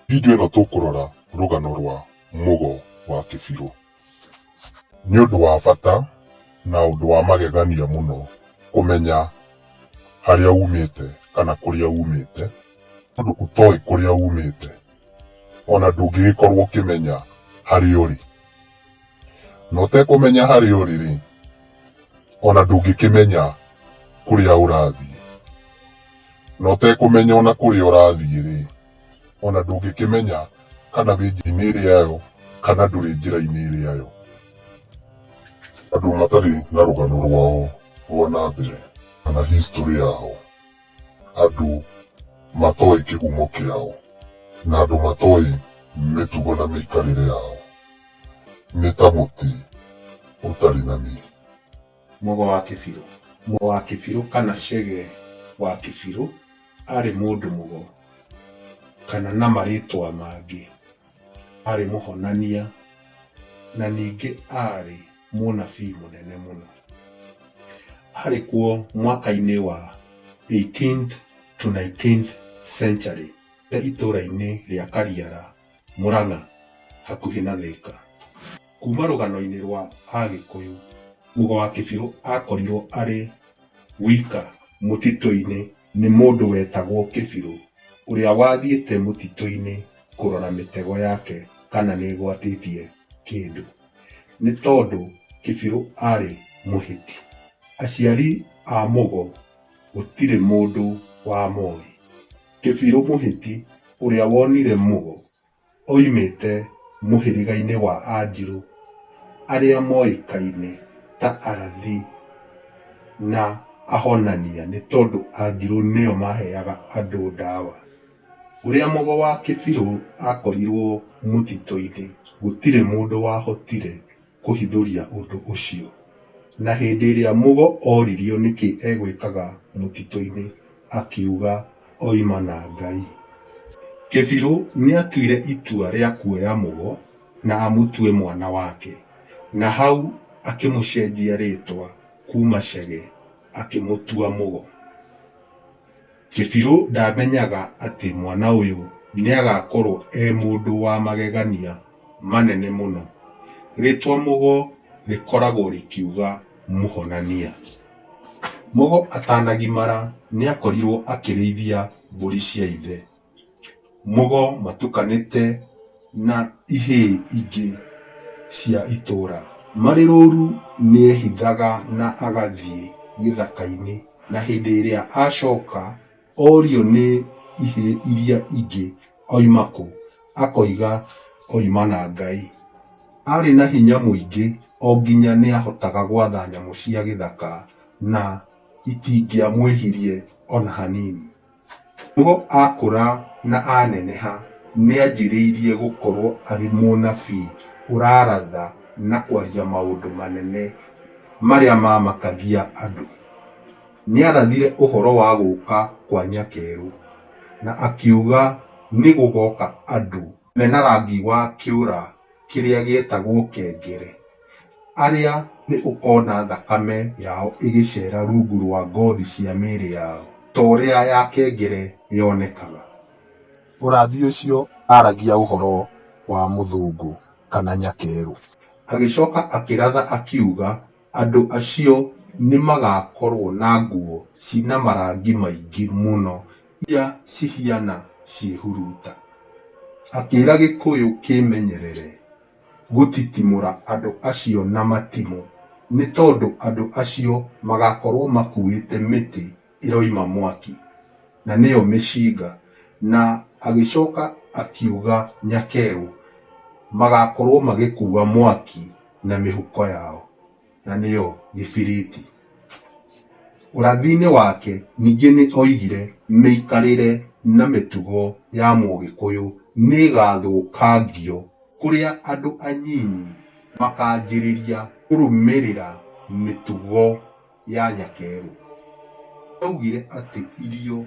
Video ĩno tũkũrora rũgano rwa mũgo wa kĩbirũ. Nĩ ũndũ wa bata na ũndũ wa magegania mũno kũmenya harĩa umĩte kana kũrĩa umĩte, tondũ ũtoĩ kũrĩa umĩte ona ndũngĩgĩkorwo ũkĩmenya harĩa ũrĩ. Na ũtekũmenya harĩa ũrĩ-rĩ, o na ndũngĩkĩmenya kũrĩa ũrathiĩ. Na ũtekũmenya o na kũrĩa ũrathiĩ-rĩ, o na ndũngĩkĩmenya kana wĩ njĩra-inĩ ĩrĩa yo kana ndũrĩ njĩra-inĩ ĩrĩa yo. Andũ matarĩ na rũgano rwao rwa na mbere kana history yao. andũ matoĩ kĩhumo kĩao, na andũ matoĩ mĩtugo na mĩikarĩre yao, nĩ ta mũtĩ ũtarĩ na mĩri. Mũgo wa Kĩbirũ. Mũgo wa Kĩbirũ kana Chege wa Kĩbirũ arĩ mũndũ mũgo kana na marĩtwa mangĩ. arĩ mũhonania na ningĩ arĩ mũnabii mũnene mũno. Arĩ kuo mwaka-inĩ wa 18th to 19th century e itũũra-inĩ rĩa Kariara, Mũrang'a hakuhĩ na Thĩka. Kuma rũgano-inĩ rwa Agĩkũyũ, Mugo wa Kĩbirũ akorirwo arĩ wika mũtitũ-inĩ nĩ mũndũ wetagwo Kĩbirũ ũrĩa wathiĩte mũtitũ-inĩ kũrora mĩtego yake kana nĩ ĩgwatĩtie kĩndũ. Nĩ tondũ Kĩbirũ arĩ mũhĩti. Aciari a Mũgo gũtirĩ mũndũ wamoĩ. Kĩbirũ mũhĩti ũrĩa wonire Mũgo oimĩte mũhĩrĩga-inĩ wa Anjirũ arĩa moĩkaine ta arathi na ahonania nĩ tondũ Anjirũ nĩo maheaga andũ ndawa. Ũrĩa mogo wa kĩbirũ akorirwo mũtitũ-inĩ gũtirĩ mũndũ wahotire kũhithũria ũndũ ũcio. Na hĩndĩ ĩrĩa mũgo oririo nĩkĩ egwĩkaga mũtitũ-inĩ akiuga oima na Ngai. Kĩbirũ nĩatuire itua rĩa kuoya mũgo na amũtue mwana wake na hau akĩmũcenjia rĩtwa kuma Chege akĩmũtua mũgo. Kĩbirũ ndamenyaga atĩ mwana ũyũ nĩagakorwo e mũndũ wa magegania manene mũno. Rĩtwa Mũgo rĩkoragwo rĩkiuga mũhonania. Mũgo atanagimara nĩakorirwo akĩrĩithia mbũri cia ithe. mũgo matukanĩte na ihĩĩ ingĩ cia itũũra. Marĩ rũũru nĩehithaga na agathiĩ gĩthaka-inĩ, na hĩndĩ ĩrĩa acooka orio nĩ ihĩĩ iria ingĩ oima kũ, akoiga oima na Ngai. Aarĩ na hinya mũingĩ o nginya nĩahotaga gwatha nyamũ cia gĩthaka na itingĩamwĩhirie o na hanini. Nĩguo akũra na aneneha, nĩanjĩrĩirie gũkorwo arĩ mũnabii ũraratha na kwaria maũndũ manene marĩa maamakagia andũ. Nĩarathire ũhoro wa gũka kwa Nyakerũ na akiuga nĩgũgoka andũ mena rangi wa kĩũra. kĩrĩa gĩetagwo kengere, arĩa nĩ ũkona thakame yao ĩgĩcera rungu rwa ngothi cia mĩĩrĩ yao, ta ũrĩa ya kengere yonekaga. Mũrathi ũcio aaragia ũhoro wa mũthũngũ kana nyakerũ. Agĩcoka akĩratha akiuga. Andũ acio nĩmagakorwo na nguo ci na marangi maingĩ mũno iria cihiana ciĩhuruta. Akĩra Gĩkũyũ kĩĩmenyerere gũtitimũra andũ acio na matimũ nĩ tondũ andũ acio magakorwo makuĩte mĩtĩ ĩroima mwaki, na nĩyo mĩcinga, na agĩcoka akiuga nyakeru, magakorwo magĩkua mwaki na mĩhuko yao, na nĩyo gĩbiriti. Ũrathi-inĩ wake ningĩ nĩ oigire mĩikarĩre na mĩtugo ya mũgĩkũyũ nĩ ĩgathũkangio kũrĩa andũ anyinyi makanjĩrĩria kũrũmĩrĩra mĩtugo. ya Nyakeru. Augire atĩ irio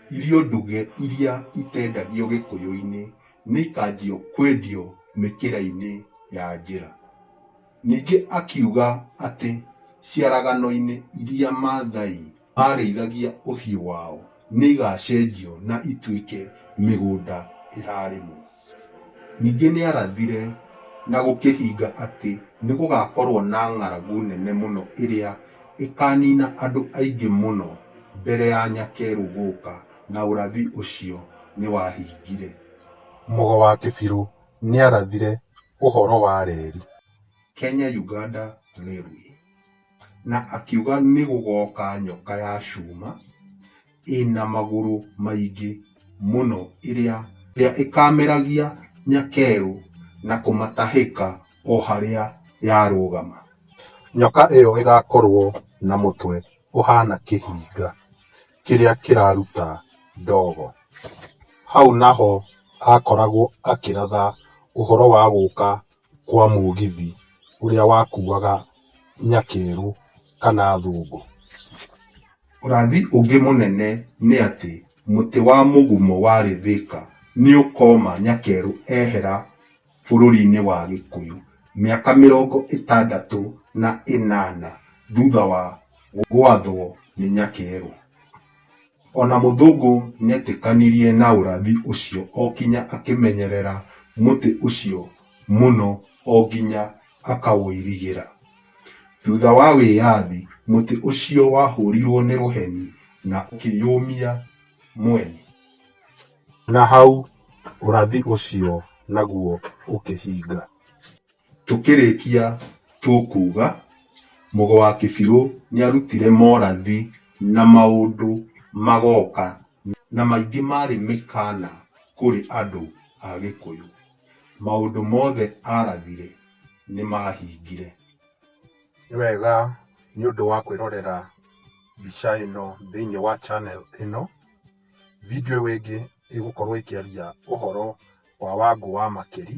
irio nduge iria itendagio Gĩkũyũ-inĩ nĩ ikanjio kwendio mĩkĩra-inĩ ya njĩra. Ningĩ akiuga atĩ ciaragano-inĩ iria Maathai maarĩithagia ũhiũ wao nĩ igaacenjio na ituĩke mĩgũnda ĩrarĩmwo. Ningĩ nĩ aarathire na gũkĩhinga atĩ nĩ gũgaakorũo na ng'aragu nene mũno ĩrĩa ĩkaaniina andũ aingĩ mũno mbere ya Nyakeru gũka, na ũrathi ũcio nĩ wahingire. Mũgo wa Kĩbirũ nĩ aarathire ũhoro wa reri. Kenya-Uganda Railway. na akiuga nĩgũgoka nyoka ya cuma ĩna magũrũ maingĩ mũno ĩrĩa ĩrĩa ĩkameragia nyakerũ na kũmatahĩka o harĩa yarũgama. Nyoka ĩyo ĩgakorwo na mũtwe ũhaana kĩhinga kĩrĩa kĩraruta ndogo. Hau naho akoragwo akĩratha ũhoro wa gũka kwa mũgithi ũrĩa wakuaga nyakerũ kana thũngũ. Ũrathi ũngĩ mũnene nĩ atĩ mũtĩ wa mũgumo warĩ Thĩka nĩ ũkoma nyakerũ ehera bũrũri-inĩ wa gĩkũyũ mĩaka mĩrongo ĩtandatũ na ĩnana thutha wa gwathwo nĩ nyakerũ. O na Mũthũngũ nĩetĩkanirie na ũrathi ũcio o kinya akĩmenyerera mũtĩ ũcio mũno o nginya akaũirigĩra. Thutha wa wĩyathi, mũtĩ ũcio wahũrirwo nĩ rũheni na ũkĩyũmia mwene. Na hau ũrathi ũcio naguo ũkĩhinga. Tũkĩrĩkia tũkuga, Mũgo wa Kĩbirũ nĩarutire morathi na maũndũ magoka na maingĩ marĩ mĩkana kũrĩ andũ a Gĩkũyũ. Maũndũ mothe arathire nĩmahingire. Nĩ wega nĩ ũndũ wa kwĩrorera mbica ĩno thĩiniĩ wa channel ĩno. Video ĩyo ĩngĩ ĩgũkorwo ĩkĩaria ũhoro wa Wangũ wa Makeri.